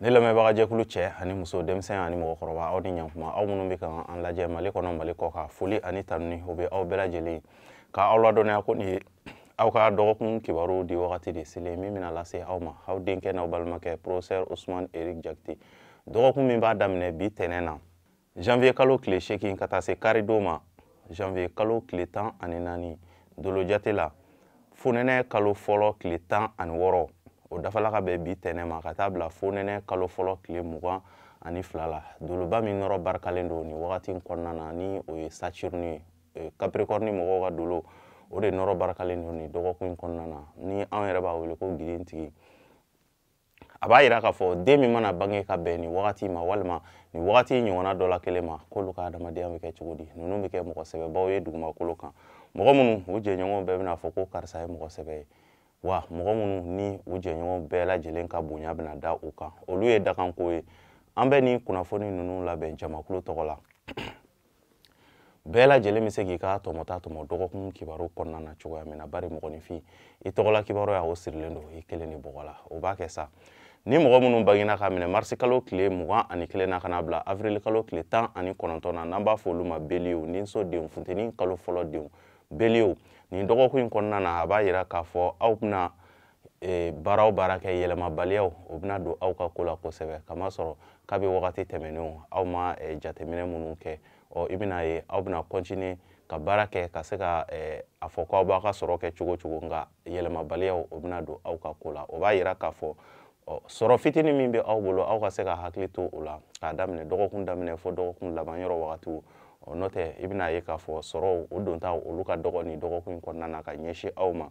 ne lamɛnbagajɛkulu cɛ ani muso denmisɛn ani mɔgɔkɔrɔba aw ni ɲankuma aw minnu bɛ ka an lajɛ mali kɔnɔ mali kɔkan foli ani tanuni o bɛ aw bɛɛ lajɛlen ye ka aw ladɔnniya ko nin ye aw ka dɔgɔkun kibaru di wagati de selen min bɛna lase aw ma aw denkɛ n'aw balimakɛ professeur ousmane eric jakite dɔgɔkun min b'a daminɛ bi tɛnɛn na janvier kalo tile seegin ka taa se karidon ma janvier kalo tile tan ani naani dolojate la fonɛnɛ kalo fɔlɔ tile tan ani wɔɔrɔ o dafala ka bɛn bi tɛnɛn ma ka taa bila fonɛnɛ kalo fɔlɔ tile mugan ani fila la doloba min nɔrɔ barikalen don nin wagati in kɔnɔna na ni o ye saturne ye capricorne mɔgɔw ka dolo o de nɔrɔ barikalen don nin dɔgɔkun in kɔnɔna na ni anw yɛrɛ b'a wele ko gidentigi a b'a yira k'a fɔ den min mana bange ka bɛn nin wagati ma walima nin wagati ɲɔgɔnna dɔ la kelen ma k'olu ka adamadenya bɛ kɛ cogo di ninnu bɛ kɛ mɔgɔ sɛbɛbaw ye dugumakolo kan mɔgɔ minnu u jɛɲɔgɔnw bɛɛ bɛna a fɔ ko karisa ye mɔgɔ sɛbɛ ye wa mɔgɔ minnu ni u jɛɲɔgɔnw bɛɛ lajɛlen ka bonya bɛna da u kan olu ye dakanko ye an bɛ nin kunnafoni ninnu labɛn jamakulu tɔgɔ la bɛɛ lajɛlen bɛ se k'i ka tɔmɔta tɔmɔ dɔgɔkun kibaru kɔnɔna na cogoya min na bari mɔgɔninfin i tɔgɔla kibaruya o sirilen don i kelen de bɔgɔ la o b'a kɛ sa ni mɔgɔ minnu bangena k'a minɛ marisi kalo tile mugan ani kelen na ka na bila avril kalo tile tan ani kɔnɔntɔn na n'an b'a fɔ olu ma beliye niso denw funteni kalo fɔlɔ denw beliyew nin dɔgɔkun in kɔnɔna na a b'a yira k'a fɔ aw bɛna e, baara o baara kɛ yɛlɛmabaliyaw o bɛna don aw ka ko la kosɛbɛ kamasɔrɔ kabi wagati tɛmɛnenw aw ma e, jateminɛ minnu kɛ ɔ i bɛna ye aw bɛna kɔntini ka baara kɛ ka se ka e, a fɔ ko aw b'aw ka sɔrɔ kɛ cogo cogo nka yɛlɛmabaliyaw o bɛna don aw ka ko la o b'a yira k'a fɔ ɔ sɔrɔ fitinin min bɛ aw bolo aw ka se ka hakili to o la k'a daminɛ dɔgɔkun daminɛ fo dɔgɔkun laban yɔrɔ wagatiw ɔ n'o tɛ i bɛna ye k'a fɔ sɔrɔw o dontaw olu ka dɔgɔ nin dɔgɔkun in kɔnɔna na ka ɲɛsin aw ma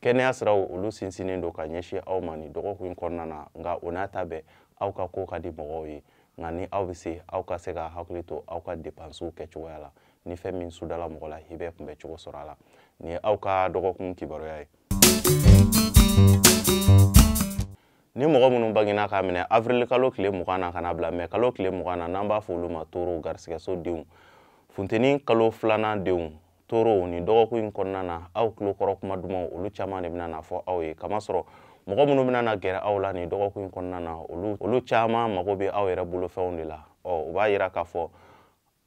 kɛnɛya siraw olu sinsinnen don ka ɲɛsin aw ma nin dɔgɔkun in kɔnɔna na nka o n'a ta bɛɛ aw ka ko ka di mɔgɔw ye nka ni aw bɛ se aw ka se ka hakili to aw ka depansiw kɛcogoya la ni fɛn min sudala mɔgɔ la i bɛ kunbɛ cogo sɔrɔ a la nin ye aw ka dɔgɔkun kibaruya ye ni mɔgɔ minnu bangena k'a minɛ avril kalo tile mugan na ka na bila mɛ kalo tile mugan na n'an b'a fɔ olu ma toro garisigɛso denw funteni kalo filanan denw torow nin dɔgɔkun in kɔnɔna na aw tulo kɔrɔ kuma dumanw olu caman de bɛna na fɔ aw ye kamasɔrɔ mɔgɔ minnu bɛna na gɛrɛ aw la nin dɔgɔkun in kɔnɔna na olu caman mago bɛ aw yɛrɛ bolofɛnw de la ɔ o b'a yira k'a fɔ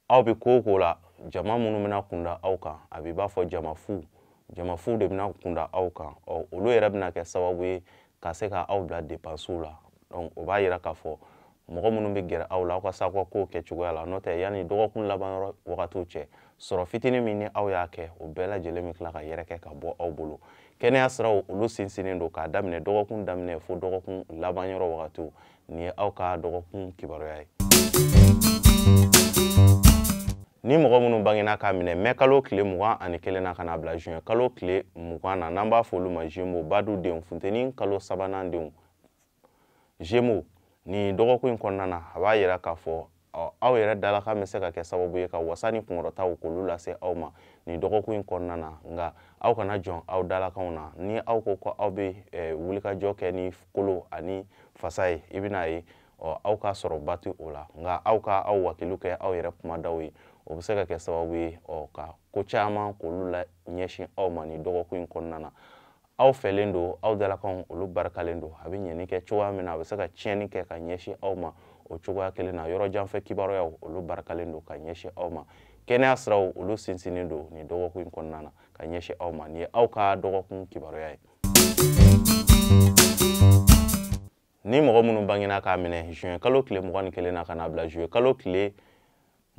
aw bɛ ko o ko la jama minnu bɛna kunda aw kan a b'i b'a fɔ jama fu jama fu de bɛna kunda aw kan ɔ olu yɛrɛ bɛna kɛ sababu ye ka se ka aw bila depansiw la donc o b'a yira k'a fɔ mɔgɔ minnu bɛ gɛrɛ aw la aw ka se aw ka kow kɛ cogoya la n'o tɛ yanni dɔgɔkun laban yɔrɔ wagatiw cɛ sɔrɔ fitini min ni aw y'a kɛ o bɛɛ lajɛlen bɛ tila ka yɛrɛkɛ ka bɔ aw bolo kɛnɛya siraw olu sinsinnen don k'a daminɛ dɔgɔkun daminɛ fo dɔgɔkun laban yɔrɔ wagatiw nin ye aw ka dɔgɔkun kibaruya ye ni mɔgɔ minnu bangena k'a minɛ mɛ kalo tile mugan ani kelen na ka na bila juin kalo tile mugan na n'an b'a fɔ olu ma zemo badu denw funteni kalo sabanan denw zemo nin dɔgɔkun in kɔnɔna na a b'a yira k'a fɔ aw yɛrɛ dalakan bɛ se ka kɛ sababu ye ka wasa ni kunkɔrɔtaw k'olu lase aw ma nin dɔgɔkun in kɔnɔna na nka aw kana jɔn aw dalakanw na ni aw ko ko aw bɛ wulikajɔ kɛ ni kolo ani fasa ye i bɛna ye aw ka sɔrɔba ti o la nka aw ka aw wakiliw kɛ aw yɛrɛ kumadaw ye o bɛ se ka kɛ sababu ye ka ko caman k'olu laɲɛsin aw ma nin dɔgɔkun in kɔnɔna na aw fɛlen don aw dalakanw olu barikalen don a bɛ ɲɛni kɛ cogoya min na a bɛ se ka tiɲɛni kɛ ka ɲɛsin aw ma o cogoya kelen na yɔrɔ jan fɛ kibaruyaw olu barikalen don ka ɲɛsin aw ma kɛnɛya siraw olu sinsinnen don nin dɔgɔkun in kɔnɔna na ka ɲɛsin aw ma nin ye aw ka dɔgɔkun kibaruya ye ni mɔgɔ minnu bangena k'a minɛ juin kalo tile mugan ni kelen na ka na bila juillet kalo tile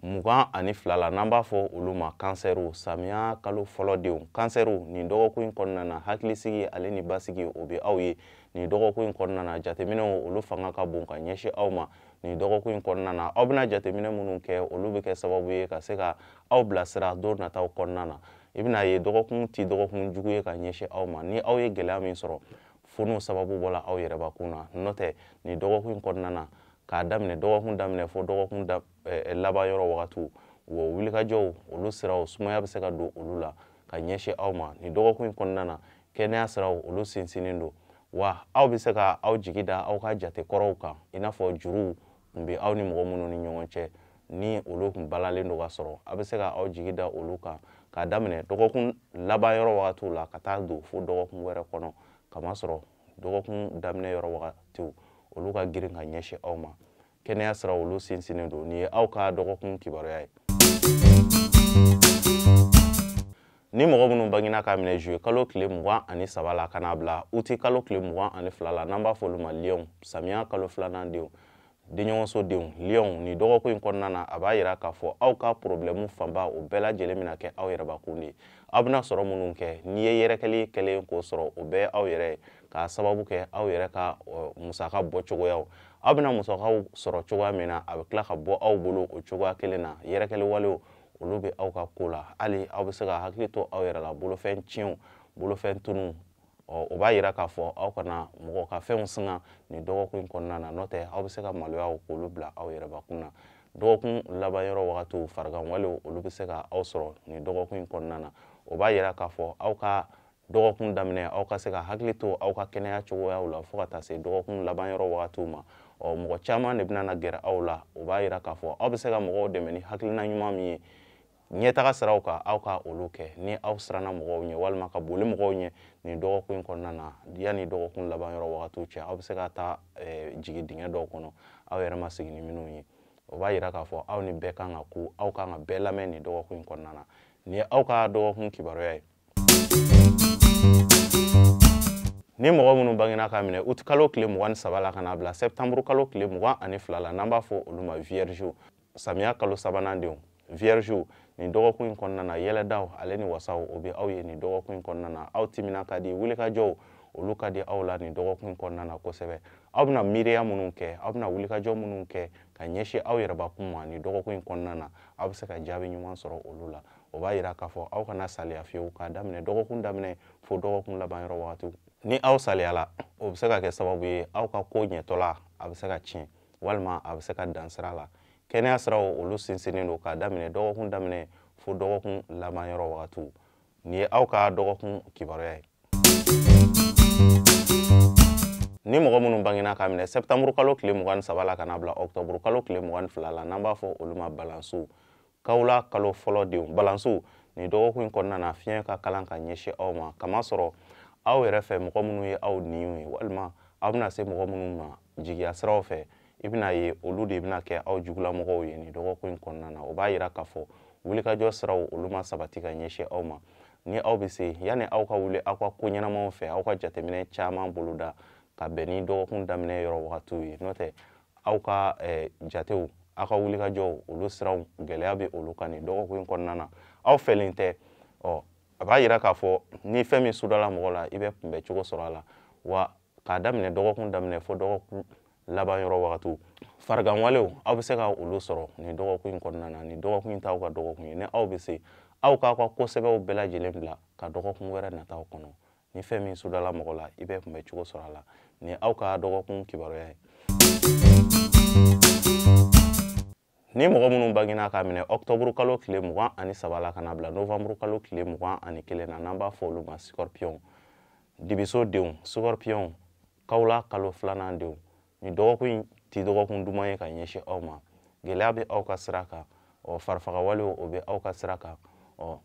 mugan ani fila la n'an b'a fɔ olu ma kansɛriw samiya kalo fɔlɔ denw kansɛriw nin dɔgɔkun in kɔnɔna na hakilisigi ale ni basigi o bɛ aw ye nin dɔgɔkun in kɔnɔna na jateminɛw olu fanga ka bon ka ɲɛsin aw ma nin dɔgɔkun in kɔnɔna na aw bɛna jateminɛ minnu kɛ olu bɛ kɛ sababu ye ka se ka aw bilasira don nataw kɔnɔna na i bɛna ye dɔgɔkun ti dɔgɔkun jugu ye ka ɲɛsin aw ma ni aw ye gɛlɛya min sɔrɔ fo n'o sababu bɔla aw yɛrɛ bakun na n'o tɛ nin dɔgɔkun in kɔnɔna na k'a daminɛ dɔgɔkun daminɛ fo dɔgɔkun da, eh, laban yɔrɔ wagatiw wa wulikajɔw olu siraw sumaya bɛ se ka don olu la ka ɲɛsin aw ma nin dɔgɔkun in kɔnɔna na kɛnɛya siraw olu sinsinnen don wa aw bɛ se ka aw jigi da aw ka jate kɔrɔw kan i n'a fɔ juruw n bɛ aw ni mɔgɔ minnu ni ɲɔgɔn cɛ ni olu tun balalen don ka sɔrɔ a bɛ se ka aw jigi da olu kan k'a daminɛ dɔgɔkun laban yɔrɔ wagatiw la ka taa don fo dɔgɔkun wɛrɛ kɔnɔ kamasɔrɔ dɔgɔkun daminɛ yɔrɔ wagatiw olu ka girin ka ɲɛsin aw ma kɛnɛya sira olu sinsinnen don nin ye aw ka dɔgɔkun kibaruya ye ni mɔgɔ minnu bangina k'a minɛ juye kalo tile mugan ani saba la ka n'a bila uti kalo tile mugan ani fila la n'an b'a f'olu ma liyɔnw samiya kalo filanan denw denɲɔgɔnso denw liyɔnw nin dɔgɔkun in kɔnɔna na a b'a yira k'a fɔ aw ka porobilɛmu fanba o bɛɛ lajɛlen bɛna kɛ aw yɛrɛ bakun de ye aw bɛna sɔrɔ minnu kɛ n'i ye yɛrɛkɛli kɛlen k'o sɔrɔ o bɛɛ aw yɛrɛ ye k'a sababu kɛ aw yɛrɛ ka musaka bɔ cogoyaw aw bɛna musakaw sɔrɔ cogoya min na a bɛ tila ka bɔ aw bolo o cogoya kelen na yɛrɛkɛli walew olu bɛ aw ka ko la hali aw bɛ se ka hakili to aw yɛrɛ la bolofɛn tiɲɛw bolofɛn tununw ɔ o b'a yira k'a fɔ aw kana mɔgɔ ka fɛnw singa nin dɔgɔkun in kɔnɔna na n'o tɛ aw bɛ se ka maloyaw k'olu bila aw yɛrɛbakun na dɔgɔkun laban yɔrɔ wagatiw fariganwalew olu bɛ se ka aw sɔrɔ nin dɔgɔkun in kɔnɔna na o b'a yira k'a fɔ aw ka dɔgɔkun daminɛ aw ka se ka hakili to aw ka kɛnɛya cogoyaw la fo ka taa se dɔgɔkun laban yɔrɔ wagatiw ma ɔ mɔgɔ caman de bɛna na gɛrɛ aw la o b'a yira k'a fɔ aw bɛ se ka mɔgɔw dɛmɛ ni hakilina ɲuman min ye ɲɛtaga siraw kan aw ka olu kɛ ni aw siranna mɔgɔw ɲɛ walima ka boli mɔgɔw ɲɛ nin dɔgɔkun in kɔnɔna na yanni dɔgɔkun laban yɔrɔ wagatiw cɛ aw bɛ se ka taa eh, jigin dingɛ dɔw kɔnɔ aw yɛrɛ ma sigi ni minnu ye o b'a yira k'a fɔ aw ni bɛɛ kan ka ku aw kan ka bɛɛ lamɛn nin dɔgɔkun in kɔnɔna na nin ye aw ka dɔgɔkun kibaruya ye ni mɔgɔ minnu bangena k'a minɛ uti kalo tile mugan ni saba la ka n'a bila sɛptanburu kalo tile mugan ani fila la n'an b'a fɔ olu ma viergew samiya kalo sabanan denw viergew nin dɔgɔkun in kɔnɔna na yɛlɛdaw ale ni wasaw o bɛ aw ye nin dɔgɔkun in kɔnɔna na aw timina ka di wulikajɔw olu ka di aw la nin dɔgɔkun in kɔnɔna na kosɛbɛ aw bɛna miiriya minnu kɛ aw bɛna wulikajɔ minnu kɛ ka ɲɛsin aw yɛrɛbakun ma nin dɔgɔkun in kɔnɔna na aw bɛ se ka jaabi ɲuman sɔrɔ olu la o b'a yira k'a fɔ aw kana saliya fiyewu k'a daminɛ dɔgɔkun daminɛ fo dɔgɔkun laban yɔrɔ wagatiw ni aw saliyala o bɛ se ka kɛ sababu ye aw ka ko ɲɛtɔla a bɛ se ka tiɲɛ walima a bɛ se ka dan sira la kɛnɛya siraw olu sinsinnen don k'a daminɛ dɔgɔkun daminɛ fo dɔgɔkun laban yɔrɔ wagatiw nin ye aw ka dɔgɔkun kibaruya ye ni mɔgɔ minnu bangena k'a minɛ sɛptanburukalo tile mugan ni saba la ka n'a bila ɔktɔburukalo tile mugan ni fila la n'an b'a fɔ olu ma balansiw kawula kalo fɔlɔ denw balansiw nin dɔgɔkun in kɔnɔna na fiɲɛ ka kalan ka ɲɛsin aw ma kamasɔrɔ aw yɛrɛ fɛ mɔgɔ minnu ye aw ɲinw ye walima aw bɛna se mɔgɔ minnu ma jigiya siraw fɛ i bɛn'a ye olu de bɛna kɛ aw jugulamɔgɔw ye nin dɔgɔkun in kɔnɔna na o b'a yira k'a fɔ wulikajɔ siraw olu ma sabati ka ɲɛsin aw ma ni aw bɛ se yanni aw ka wuli aw ka ko ɲɛnamaw fɛ aw ka jateminɛ caman boloda ka bɛn ni dɔgɔkun daminɛ yɔrɔ wagatiw ye n'o tɛ aw ka eh, jatew aw ka wulikajɔw olu siraw gɛlɛya bɛ olu kan nin dɔgɔkun in kɔnɔna na aw fɛlen tɛ ɔ a b'a yira k'a fɔ ni fɛn min sudala mɔgɔ la i bɛ kunbɛ cogo sɔrɔ a la wa k'a daminɛ dɔgɔkun daminɛ fo dɔgɔkun laban yɔrɔ wagatiw fariganwalew aw bɛ se ka olu sɔrɔ nin dɔgɔkun in kɔnɔna na nin dɔgɔkun in t'aw ka dɔgɔkun ye ni aw bɛ se aw k'aw ka ko sɛbɛw bɛɛ lajɛlen bila ka dɔgɔkun wɛrɛ nataw kɔnɔ ni fɛn min sodala mɔgɔ la i bɛ kunbɛn cogo sɔrɔ a la nin ye aw ka dɔgɔkun kibaruya ye ni mɔgɔ minnu bangena k'a minɛ ɔktɔburu kalo tile mugan ani saba la ka n'a bila novanburu kalo tile mugan ani kelen na n'an b'a fɔ olu ma sikɔripiyɔnw dibiso denw sikɔripiyɔnw kawula kalo filanan denw nin dɔgɔkun in ti dɔgɔkun duman ye ka ɲɛsin aw ma gɛlɛya bɛ aw ka sira kan ɔ farifaga walew o bɛ aw ka sira kan ɔ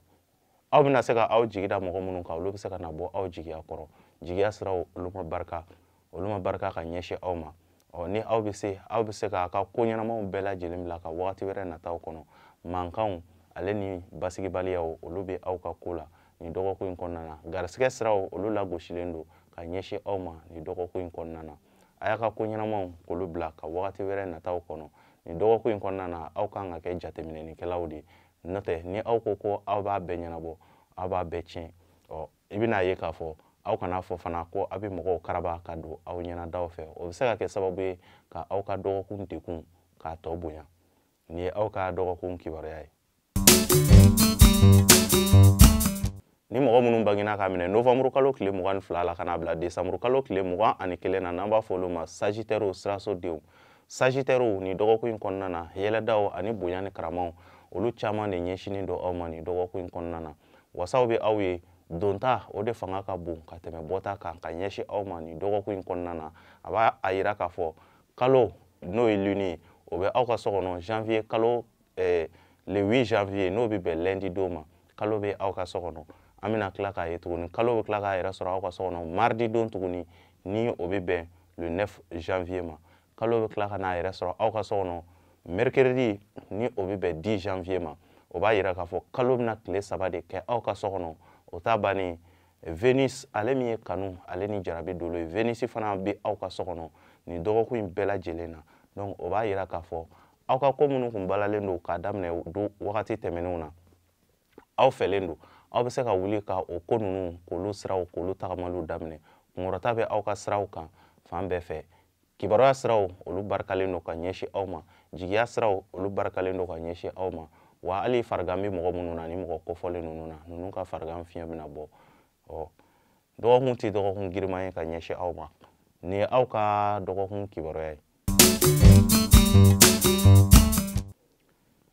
aw bɛna se ka aw jigi da mɔgɔ minnu kan olu bɛ se ka na bɔ aw jigiya kɔrɔ jigiya siraw olu ma barika olu ma barika ka ɲɛsin aw ma ɔ ni aw bɛ se aw bɛ se k'a ka ko ɲɛnamaw bɛɛ lajɛlen bila ka wagati wɛrɛ nataw kɔnɔ mankanw ale ni basigibaliyaw olu bɛ aw ka ko la nin dɔgɔkun in kɔnɔna na garisigɛ siraw olu lagosilen don ka ɲɛsin aw ma nin dɔgɔkun in kɔnɔna na a y'a ka ko ɲɛnamaw k'olu bila ka wagati wɛrɛ nataw kɔnɔ nin dɔgɔkun in kɔnɔna na aw kan ka kɛ jateminɛlikɛlaw de ye n'o tɛ ni aw ko ko aw b'a bɛɛ ɲɛnabɔ aw b'a bɛɛ tiɲɛ ɔ i bɛna ye k'a fɔ aw kana a fɔ fana ko aw bɛ mɔgɔw karaba ka don aw ɲɛnadaw fɛ o bɛ se ka kɛ sababu ye ka aw ka dɔgɔkun degun k'a tɔ bonya nin ye aw ka dɔgɔkun kibaruya ye ni mɔgɔ minnu bangena k'a minɛ novanburu kalo tile mugan ni fila la ka n'a bila desanburu kalo tile mugan ani kelen na n'an b'a fɔ olu ma sajitɛriw siraso denw sajitɛriw nin dɔgɔkun in kɔnɔna na yɛlɛdaw ani bonya ni karamaw olu caman de ɲɛsinnen don aw ma nin dɔgɔkun in kɔnɔna na wasaw bɛ aw ye donta o de fanga ka bon ka tɛmɛ bɔta kan ka ɲɛsin aw ma nin dɔgɔkun in kɔnɔna na a b'a yira k'a fɔ kalo n'o ye lune ye o bɛ aw ka so kɔnɔ janvier kalo ɛɛ le 8 janvier n'o bɛ bɛn lundi don ma kalo bɛ aw ka so kɔnɔ an bɛna tila k'a ye tuguni kalo bɛ tila k'a yɛrɛ sɔrɔ aw ka so kɔnɔ mardi don tuguni ni o bɛ bɛn le 9 janvier ma kalo bɛ tila ka n'a yɛrɛ sɔrɔ aw ka so kɔnɔ mercredi ni o bɛ bɛn 10 janvier ma o b'a yira k'a fɔ kalo bɛna tile saba de kɛ aw ka so kɔnɔ o t'a bannen venus ale min ye kanu ale ni jarabi dolo ye venus fana bɛ aw ka so kɔnɔ nin dɔgɔkun in bɛɛ lajɛlen na donc o b'a yira k'a fɔ aw ka ko minnu kun balalen don k'a daminɛ don wagati tɛmɛnenw na aw fɛrɛlen don aw bɛ se ka wuli ka o ko ninnu k'olu siraw k'olu tagamaliw daminɛ kunkɔrɔta bɛ aw ka siraw kan fan bɛɛ fɛ kibaruya siraw olu barikalen don ka ɲɛsin aw ma jigiya siraw olu barikalen don ka ɲɛsin aw ma wa hali farigan bɛ mɔgɔ minnu na nin mɔgɔ kofɔlen ninnu na ninnu ka farigan fiɲɛ bɛna bɔ ɔ dɔgɔkun tɛ dɔgɔkun giriman ye ka ɲɛsin aw ma nin ye aw ka dɔgɔkun kibaruya ye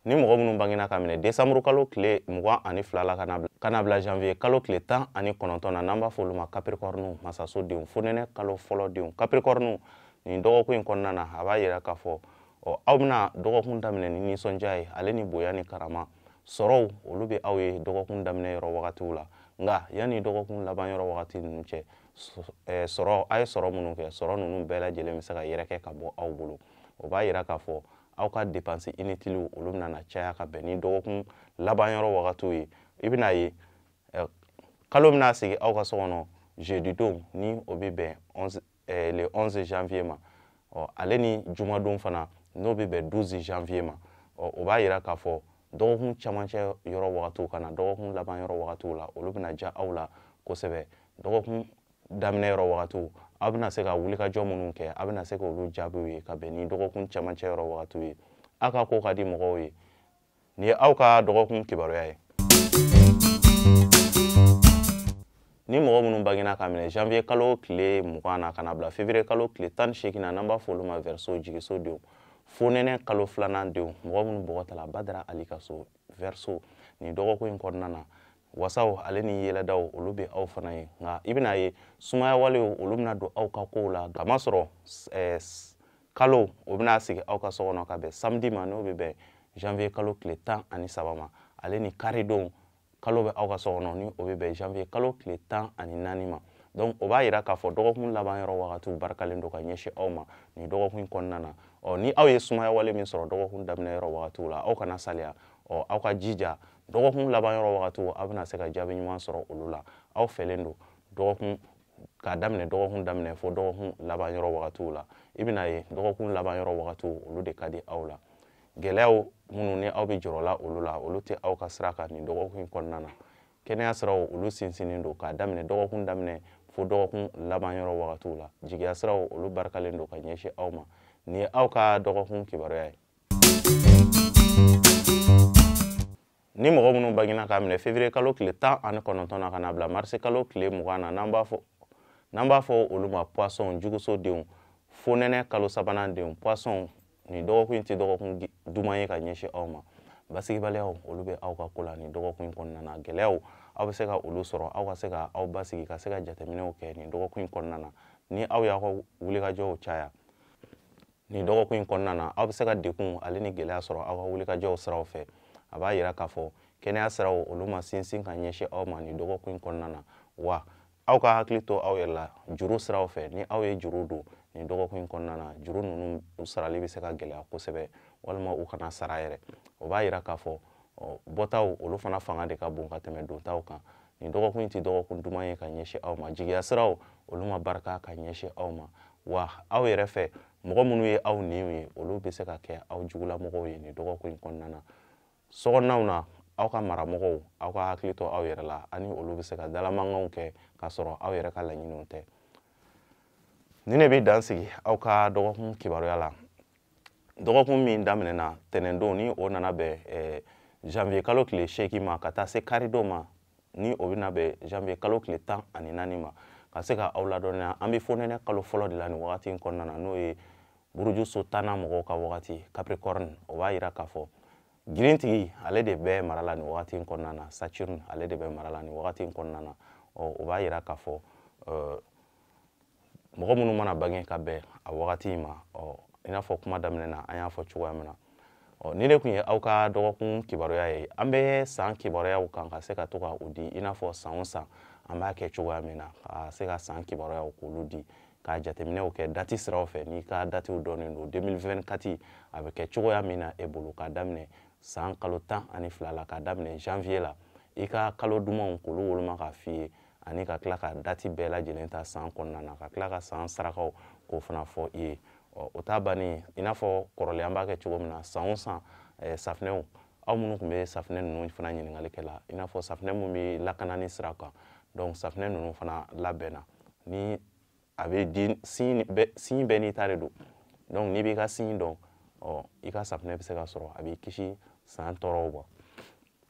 ni mɔgɔ minnu bangena ka minɛ desanburu kalo tile mugan ani fila la ka na bila janvier kalo tile tan ani kɔnɔntɔn na n'an b'a fɔ olu ma kapirikɔriniw masaso denw fonɛnɛ kalo fɔlɔ denw kapirikɔriniw nin dɔgɔkun in kɔnɔna na a b'a yira k'a fɔ ɔ aw bɛna dɔgɔkun daminɛ ni nisɔndiya ye ale ni bonya ni karama sɔrɔw olu bɛ aw ye dɔgɔkun daminɛ yɔrɔ wagatiw la nka yanni dɔgɔkun laban yɔrɔ wagati ninnu cɛ sɔrɔ a ye sɔrɔ minnu kɛ sɔrɔ ninnu bɛɛ lajɛlen bɛ se ka yɛrɛkɛ ka bɔ aw bolo o b'a yira k'a fɔ aw ka depansi initiliw olu bɛna na caya ka bɛn ni dɔgɔkun laban yɔrɔ wagatiw ye i bɛna ye kalo bɛna sigi aw ka so kɔnɔ jeudi don ni o bɛ bɛn le 11 janvier ma ɔ ale ni jumadon fana n'o bɛ bɛn 12 janvier ma ɔ o b'a yira k'a fɔ dɔgɔkun camancɛ yɔrɔ wagatiw ka na dɔgɔkun laban yɔrɔ wagatiw la olu bɛna diya aw la kosɛbɛ dɔgɔkun daminɛ yɔrɔ wagatiw aw bɛna se ka wulikajɔ minnu kɛ aw bɛna se ka olu jaabiw ye ka bɛn ni dɔgɔkun camancɛ yɔrɔ wagatiw ye aw ka ko ka di mɔgɔw ye nin ye aw ka dɔgɔkun kibaruya ye ni mɔgɔ minnu bangena ka minɛ janvier kalo tile mugan na ka na bila février kalo tile tan ni seegin na n'an b'a fɔ olu ma verseau jigiso denw fonɛnɛ kalo filanan denw mɔgɔ minnu bɔgɔ tala badara ali ka so verseau nin dɔgɔkun in kɔnɔna na wasaw ale ni yɛlɛdaw olu bɛ aw fana ye nka i bɛna ye sumaya walew olu bɛna don aw ka kow la k'a masɔrɔ eh, kalo o bɛna sigi aw ka so kɔnɔ ka bɛn samedi ma n'o bɛ bɛn janvier kalo tile tan ani saba ma ale ni karidon kalo bɛ aw ka so kɔnɔ ni o bɛ bɛn janvier kalo tile tan ani naani ma donc o b'a yira k'a fɔ dɔgɔkun laban yɔrɔ wagatiw barikalen don ka ɲɛsin aw ma nin dɔgɔkun in kɔnɔna na ɔ ni aw ye sumaya wale min sɔrɔ dɔgɔkun daminɛ yɔrɔ wagatiw la aw kana saliya ɔ aw ka jija dɔgɔkun laban yɔrɔ wagatiw aw bɛna se ka jaabi ɲuman sɔrɔ olu la aw fɛrɛlen don dɔgɔkun k'a daminɛ dɔgɔkun daminɛ fo dɔgɔkun laban yɔrɔ wagatiw la i bɛna ye dɔgɔkun laban yɔrɔ wagatiw olu de ka di aw la gɛlɛyaw minnu ni aw bɛ jɔrɔ la olu la olu tɛ aw ka sira kan nin dɔgɔkun in kɔnɔna na kɛnɛya siraw olu sinsinnen don k'a daminɛ dɔgɔkun daminɛ fo dɔgɔkun laban yɔrɔ wagatiw la jigiya siraw olu barikalen don ka ɲɛsin aw ma nin ye aw ka dɔgɔkun kibaruya ye ni mɔgɔ minnu bangena k'a minɛ février kalo tile tan ani kɔnɔntɔn na ka na bila marisi kalo tile mugan na n'an b'a fɔ n'an b'a fɔ olu ma poisson juguso denw fonɛnɛ kalo sabanan denw poisson nin dɔgɔkun in tɛ dɔgɔkun duman ye ka ɲɛsin aw ma basigibaliyaw olu bɛ aw ka ko la nin dɔgɔkun in kɔnɔna na gɛlɛyaw aw bɛ se ka olu sɔrɔ aw ka se ka aw basigi ka se ka jateminɛw kɛ nin dɔgɔkun in kɔnɔna na ni aw y'aw ka wulikajɔw caya nin dɔgɔkun in kɔnɔna na aw bɛ se ka degun ale ni gɛlɛya sɔrɔ aw ka wulikajɔw siraw fɛ a b'a yira k'a fɔ kɛnɛya siraw olu ma sinsin ka ɲɛsin aw ma nin dɔgɔkun in kɔnɔna na wa aw ka hakili to aw yɛrɛ la juru siraw fɛ ni aw ye juru don nin dɔgɔkun in kɔnɔna na juru ninnu u sarali bɛ se ka gɛlɛya kosɛbɛ walima u kana sara yɛrɛ o b'a yira k'a fɔ bɔtaw olu fana fanga de ka bon ka tɛmɛ dontaw kan nin dɔgɔkun in tɛ dɔgɔkun duman ye ka ɲɛsin aw ma jigiya siraw olu ma barika ka ɲɛsin aw ma wa aw yɛrɛ fɛ mɔgɔ minnu ye aw niw ye olu bɛ se ka kɛ aw jugulamɔgɔw ye nin dɔgɔkun in kɔnɔna na sokɔnɔnaw na aw ka maramɔgɔw aw ka hakili to aw yɛrɛ la ani olu bɛ se ka dalamankanw kɛ k'a sɔrɔ aw yɛrɛ ka laɲiniw tɛ nin de bɛ dan sigi aw ka dɔgɔkun kibaruya la dɔgɔkun min daminɛna tɛnɛndon ni o nana bɛn eh, janvier kalo tile seegin ma ka taa se karidon ma ni o bɛna bɛn janvier kalo tile tan ani naani ma ka se ka aw ladɔnniya an bɛ fonɛnɛ kalo fɔlɔ de la nin wagati in kɔnɔna na n'o ye burujuso tannan mɔgɔw ka wagati capricorne o b'a yira k'a fɔ girintigi ale de bɛ mara la nin wagati in kɔnɔna na saturne ale de bɛ mara la nin wagati in kɔnɔna na ɔ o b'a yira k'a fɔ mɔgɔ minnu mana bange ka bɛn a wagati in ma ɔ i n'a fɔ kuma daminɛ na an y'a fɔ cogoya min na ɔ nin de tun ye aw ka dɔgɔkun kibaruya ye an bɛ san kibaruyaw kan ka se ka to ka o di i n'a fɔ san o san an b'a kɛ cogoya min na ka se ka san kibaruyaw k'olu di ka jateminɛw kɛ dati siraw fɛ n'i ka datiw dɔnnen don 2024 a bɛ kɛ cogoya min na e bolo ka daminɛ san kalo tan ani fila la ka daminɛ janvier la i ka kalo dumanw k'olu woloma k'a f'i ye ani ka tila ka dati bɛɛ lajɛlen ta san kɔnɔna na ka tila ka san sarakaw k'o fana fɔ i ye o ta bannen i n'a fɔ kɔrɔlen an b'a kɛ cogo min na san o san safinɛw aw minnu tun bɛ safinɛ ninnu fana ɲininkali kɛ la i n'a fɔ safinɛ minnu bɛ lakanani sira kan donc safinɛ ninnu fana labɛnna ni a bɛ di signe bɛɛ n'i ta de don donc n'i b'i ka signe dɔn ɔ i ka safinɛ bɛ se ka sɔrɔ a b'i kisi san tɔɔrɔw ma